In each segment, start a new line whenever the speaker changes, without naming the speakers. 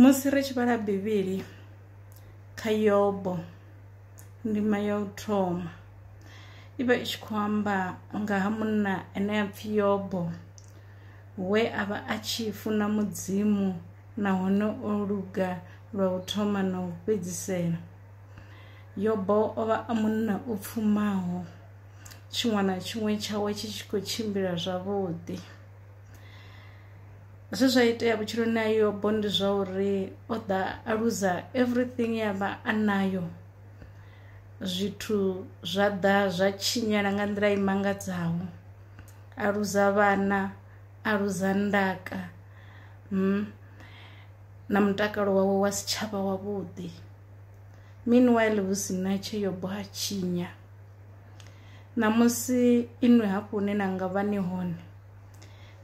Musi ri tshi vhala Bivhili kha Yobo ndima ya u thoma i vha i tshi khou amba nga ha munna ane a pfhi Yobo we a vha a tshi funa Mudzimu nahone o luga lwa u thoma na u fhedzisela. Yobo o vha a munna o pfumaho tshiṅwe na tshiṅwe tshawe tshi tshi khou tshimbila zwavhuḓi. zwe zwa itea vhutshiloni ha yobo ndi zwa uri o ḓa a luza everything ya vha a nayo zwithu zwa ḓa zwa tshinyala nga nḓila i mangadzaho a luza vhana a luza ndaka mm, na mutakalo wawe wa si tshavha wavhuḓi meanwhile hu si na tshe yobo ha tshinya ṋamusi inwi hafhu hune na nga vha ni hone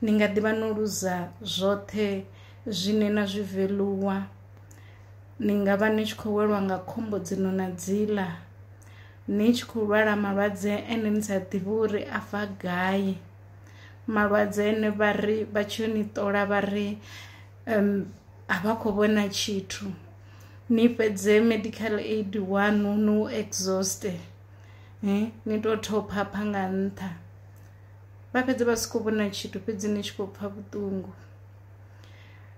ni nga ḓi vha no luza zwoṱhe zwine na zwi veluwa ni nga vha ni tshi khou welwa nga khombo dzino na dziḽa ni tshi khou lwala malwadze ane ni sa ḓivhi uri a bva gai malwadze ane vha ri vha tshi yo ni ṱola vha ri um, a vha khou vhona tshithu ni fhedze medical aid wanu no exhauste ni tou thopha pha nga nṱha vha fhedze vha si khou vhona tshithu fhedzi ni tshi khou pfa vhuṱungu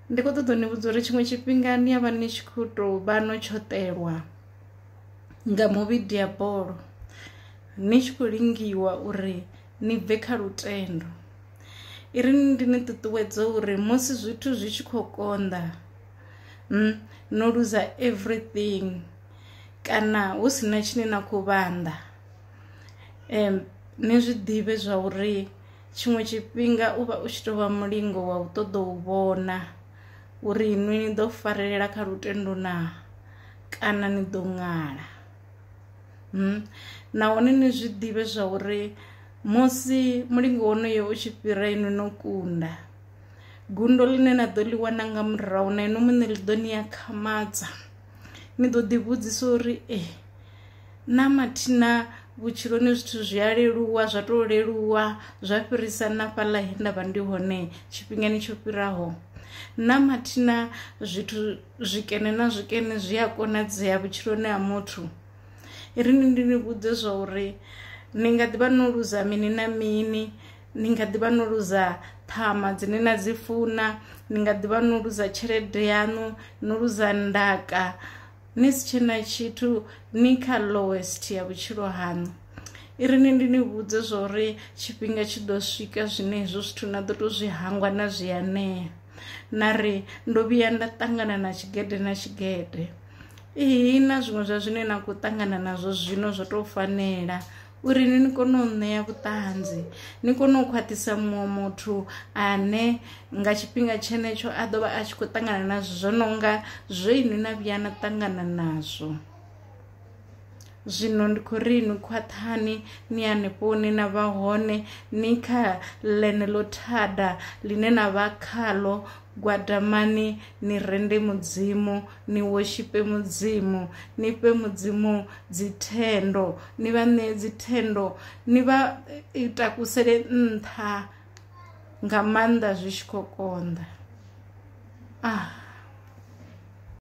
ndi khou ṱoḓa ni vhudza uri tshiṅwe tshifhinga ni ya vha ni tshi khou tou vha no tshoṱelwa nga muvhidi ya bolo ni tshi khou lingiwa uri ni bve kha lutendo i ri ndi ni ṱuṱuwedza uri musi zwithu zwi tshi khou konḓa hmm, no luza everything kana hu si na tshine na khou vhanḓa Ni zwi ḓivhe zwa uri tshiṅwe tshifhinga u vha u tshi tovha mulingo wa u ṱoḓa u vhona uri inwi ni ḓo farelela kha lutendo na kana ni ḓo ṅala. Nahone ni zwi ḓivhe zwa uri musi mulingo wonoyo u tshi fhira inwi no kunda gundo ḽine na ḓo ḽi wana nga murahu na inwi muṋe ḽi ḓo ni akhamadza ni ḓo ḓi vhudzisa uri ee. na mathina vhutshiloni zwithu zwi a leluwa zwa tou leluwa zwa fhirisa na fhaḽa he nda vha ndi hone tshifhingani tsho fhiraho na mathina zwithu zwikene na zwikene zwi a konadzea vhutshiloni ha muthu ri ni ndi ni vhudze zwa uri ni nga ḓivha no luza mini na mini ni nga ḓivha no luza ṱhama dzine na dzi funa ni nga ḓivha no luza tshelede yaṋu no luza ndaka ni si tshe na tshithu ni kha lowest ya vhutshilo haṋu i ri ni ndi ni vhudze zwa uri tshifhinga tshi ḓo swika zwine hezwo zwithu na ḓo tou zwi hangwa na zwi anea na ri ndo vhuya nda ṱangana na tshigede na tshigede ihi na zwiṅwe zwa zwine na khou ṱangana nazwo zwino zwo tou fanela uri ni ni kone u ṋea vhuṱanzi ni kone u khwaṱhisa muṅwe muthu ane nga tshifhinga tshenetsho a ḓo vha a tshi khou ṱangana nazwo zwo no nga zwo inwi na vhuya na ṱangana nazwo zwino ndi khou ri ni khwaṱhani ni hanefho hune na vha hone ni kha ḽene ḽo thada ḽine na vha khaḽo gwadamani ni rende mudzimu ni woshipe mudzimu ni fhe mudzimu dzithendo ni vha ṋee dzithendo ni vha takusele nṱha nga maanḓa zwi tshi khou konḓa ah